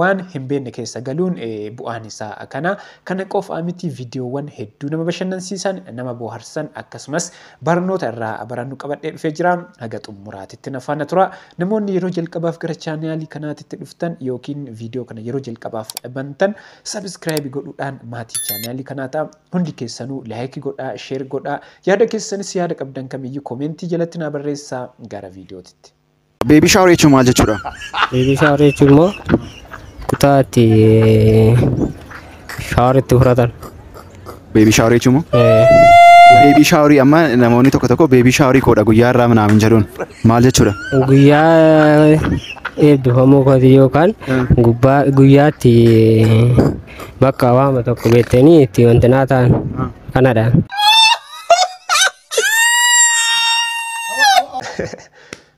Waan hin beekne keessa galuun bu'aan isaa kana. Kana qofaa miti viidiyoowwan hedduu nama bashannansiisan, nama booharsan akkasumas barnoota irraa barannu qabadhee dhufee jira. Haga xummuraatitti na faana tura. Namoonni yeroo jalqabaaf gara chaanaalii kanaatitti dhuftan yookiin viidiyoo kana yeroo jalqabaaf bantan sabiskiraayibi godhuudhaan maatii chaanaalii kanaa ta'a. Hundi keessanuu laayiki godhaa, sheer godhaa. Yaada keessanis yaada qabdan kamiyyuu komeentii jalatti naa barreessaa. Gara viidiyootitti. Beebii shaawar jechuun maal jechuudha? Beebii shaawar jechuun immoo kutaa itti shaawar itti fudhatan. Beebii shaawar jechuun immoo Eh, beebii shaawarii amma namoonni tokko tokko beebii shaawarii koodha guyyaa irraa minaamin jedhuun maal jechuudha? Guyyaa eebbifamuu kooti yookaan gubbaa guyyaatti bakka waama tokko beektanii itti wantinaa ta'an kanadha.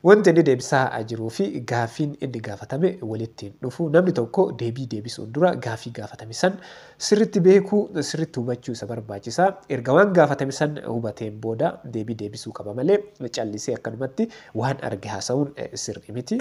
Wanti inni deebisaa jiruu fi gaaffiin inni gaafatame walitti hin dhufu. Namni tokko deebii deebisuun dura gaaffii gaafatame san sirritti beekuu, sirritti hubachuu isa barbaachisa. Erga waan gaafatame san hubateen booda deebii deebisuu qaba malee callisee akkanumatti waan arge haasa'uun sirrii miti.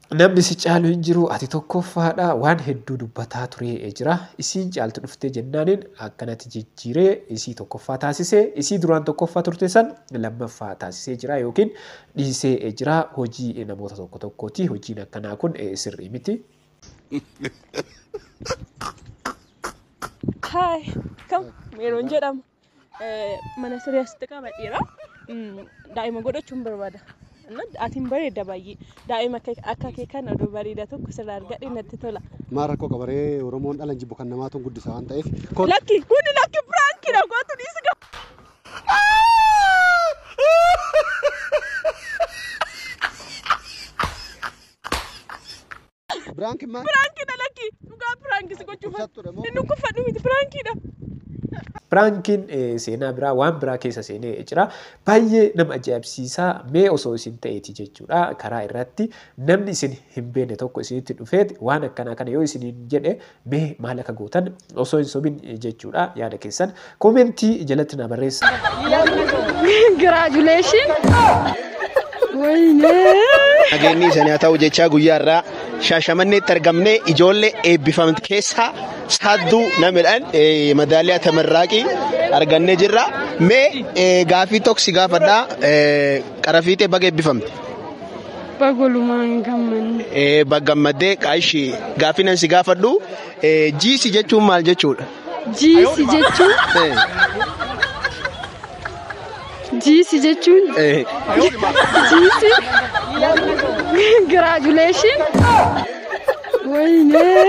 Namni si caalu hin jiru ati tokkoffaadha waan hedduu dubbataa turee jira isiin caaltu dhuftee jennaaniin akkanatti jijjiiree isii tokkoffaa taasisee isii duraan tokkoffaa turte san lammaffaa taasisee jira yookiin dhiisee jira hojii namoota tokko tokkooti hojiin akkanaa kun sirrii miti. Hi, come, Meron jedhama. mana siree asitti qabadheera. Daa'ima godhachuun barbaada. Atiin bareeda baay'ee. Daa'ima akka kee kan oduu bareeda tokko sirraa argadhe natti tola. Maal rakkoo qabaree Oromoon dhalan jibbu kan namaatu hin guddisa waan ta'eef. Lakki kuni lakki piraanki na gootu dhiisi gab. Biraanki maal? Piraankiidha lakki. Dhugaa piraanki si gochuuf. Dhukkubsattuudha moo? Hin dhukkubfadhu miti piraankiidha. Piraankiin eh, seenaa biraa waan biraa keessa seenee jira. Baay'ee nama ajaa'ibsiisa. Mee osoo isin ta'eeti jechuudha. Karaa irratti namni isin hin beekne tokko isinitti dhufeet waan akkanaa kana yoo isiniin jedhe Mee maal akka gootan osoo hin sobin jechuudha yaada keessan koomentii jalatti na barreessa. Congratulations. Wayinee. Nageenyi isanii haa ta'u jechaa guyyaa irraa shaashamanneetti argamne ijoollee eebbifamte keessaa sadduu namidhaan eh, madaaliyaa tamarraaqii argannee jirra. Mee eh, gaafii tokko si gaafadhaa eh, qarafiixee baga eebbifamte. Bagolumaan gammanne. Eh, Baggammaddee qaashi gaaffii nan si gaafadhu eh, jiisi jechuun maal jechuudha? Jiisi jechuun Eh, jiisi jechuun eh. jiisi giraajuleeshin waynee.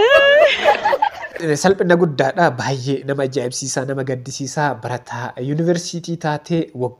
Eh, Salphina guddaadha baay'ee nama ajaa'ibsiisaa nama gaddisiisaa barataa yuunivarsiitii taatee waggaa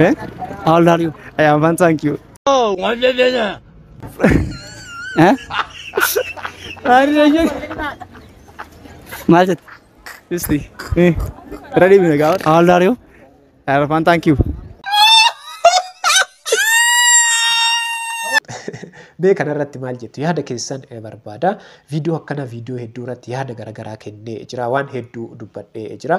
Eh? How old are you? I am fine, thank you. Oh, what did you do? Eh? Maal jette? Isti. Eh. Irra deebine gaafa. How old are you? I am fine, thank you. Mee kanarratti maal jettu yaada keessan eh, barbaada. Viidiyoo akkana viidiyoo hedduu irratti yaada garaagaraa kennee jira. Waan hedduu dubbadhee jira.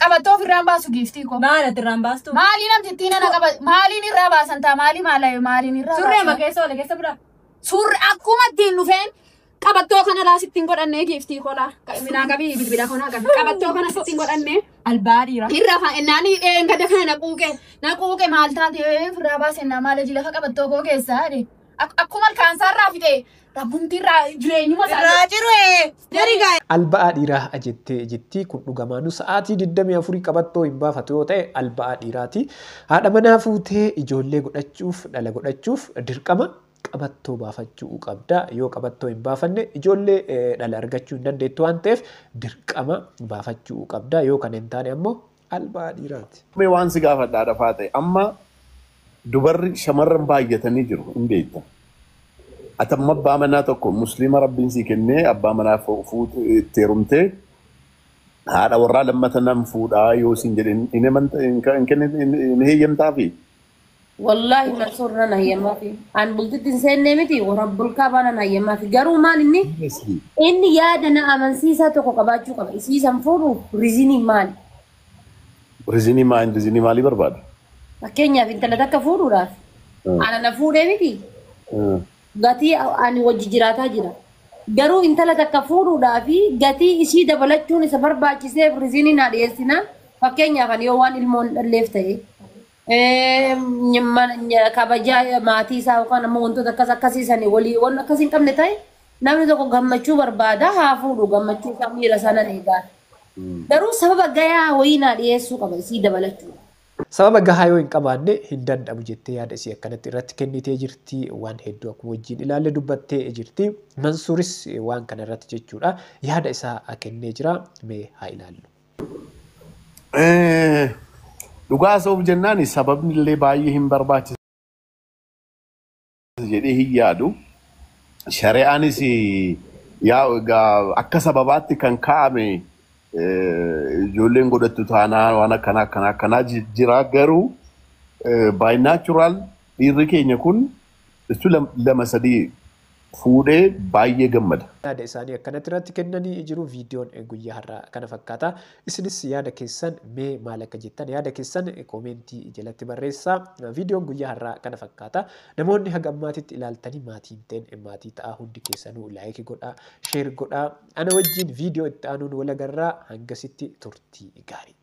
Qabattoo ofirraa hin baasu giiftii koo. Maal ati irraan baastu? Maalii namti ittiin ana qaba maaliin irraa baasan taa maalii maalayo maaliin irraa Surree baasan. makeessa wala keessa bira. Suurri akkuma ittiin dhufeen qabattoo kana laa sittiin godhannee giiftii kolaa. Minaa qabii bilbila konaa qabi. Qabattoo kana sittiin godhannee. Albaa dhiira. Irra fa ennaan hidheen gada kana na quuqe. Na quuqe maal taate ofirraa baase ennaa maal hojii lafa qabattoo koo keessaa jedhe. Ak- Akkuma ilkaansaa irraa fixe rabbumti irraa jireenyuma isaa Irraa ciree. Jari gaa'e. Alba'aa dhiiraa ha'a jettee jetti kun dhugamaanu sa'aatii 24 qabattoo hin baafatu yoo ta'e alba'aa dhiiraati. Haadha manaa fuutee ijoollee godhachuuf dhala godhachuuf dirqama qabattoo baafachuu qabda. Yoo qabattoo hin baafanne ijoollee eh, dhala argachuu hin dandeettu waan ta'eef dirqama baafachuu qabda. Yoo kana hin taane ammoo albaa dhiiraati. Mee waan si gaafadha haadha faaxee amma dubarri shamarran baay'atanii jiru hin beekta ati amma abbaa manaa tokko musliima rabbiin sii kennee abbaa manaa fu- fuut- itti heerumtee haadha warraa lammata nan fuudhaa yoo siin jedhe hin- hin himanta- hin ka- hin kenni- hin- hin heeyyamtaafi Wallaahi Mansuur nan hayyamaafi. An bultitti hin seennee miti warabbul kaabaa nan hayyamaafi. Garuu maal inni Honestly. inni yaada na amansiisaa tokko qabaachuu qaba. Isii san fuudhuuf rizinii maali? Rizinii maal rizinii maalii barbaada? Fakkeenyaaf intala takka fuudhuudhaaf Hmm. ana na fuudhee miti Hmm. gatii ani wajji jiraataa jira. Garuu intala takka fuudhuudhaa fi gatii isii dabalachuun isa barbaachiseef rizinii naa dhiyeessinaan fakkeenyaaf ani yoo waan ilmoon dhalleef ta'e Eem, ny- mana- ny- kabajaa maatii isaa yookaan ammoo wantoota akkas akkasii sani walii waan akkasii hin qabne ta'e namni tokko gammachuu barbaada haa fuudhu gammachuu isaa miira isaa nan eegaa. Garuu sababa gayaa wayii naa dhiyeessuu qaba isii dabalachuu. Sababa gahaa yoo hin qabaanne hin danda'amu jettee yaada isii akkanatti irratti kennitee jirti. Waan hedduu akkuma wajjin ilaalle dubbattee jirti. Mansuuris waan kana irratti jechuudha yaada isaa kennee jira. Mee haa ilaallu. Eh, Dhugaa haasa'uuf jennaan sababni illee baay'ee hin barbaachisa jedhee hin yaadu. Shari'aanis yaa egaa akka sababaatti kan kaa'ame eh, ijoolleen godhattu taanaa waan akkanaa akkanaa akkanaa ji- jira garuu eh, by natural dhiirri keenya kun Issu lam- lama sadii fuudhee baay'ee gammada. yaada isaanii akkanatti irratti kennanii jiru viidiyoon guyyaa har'aa kana fakkaata isinis yaada keessan mee maal akka jettan yaada keessan koomeentii jalatti barreessaa viidiyoon guyyaa har'aa kana fakkaata namoonni haga ammaatitti ilaaltanii maatii hin ta'in maatii ta'aa hundi keessanuu laayiki godhaa sheer godhaa ana wajjiin viidiyoo itti aanuun walagarraa hangasitti turtii gaarii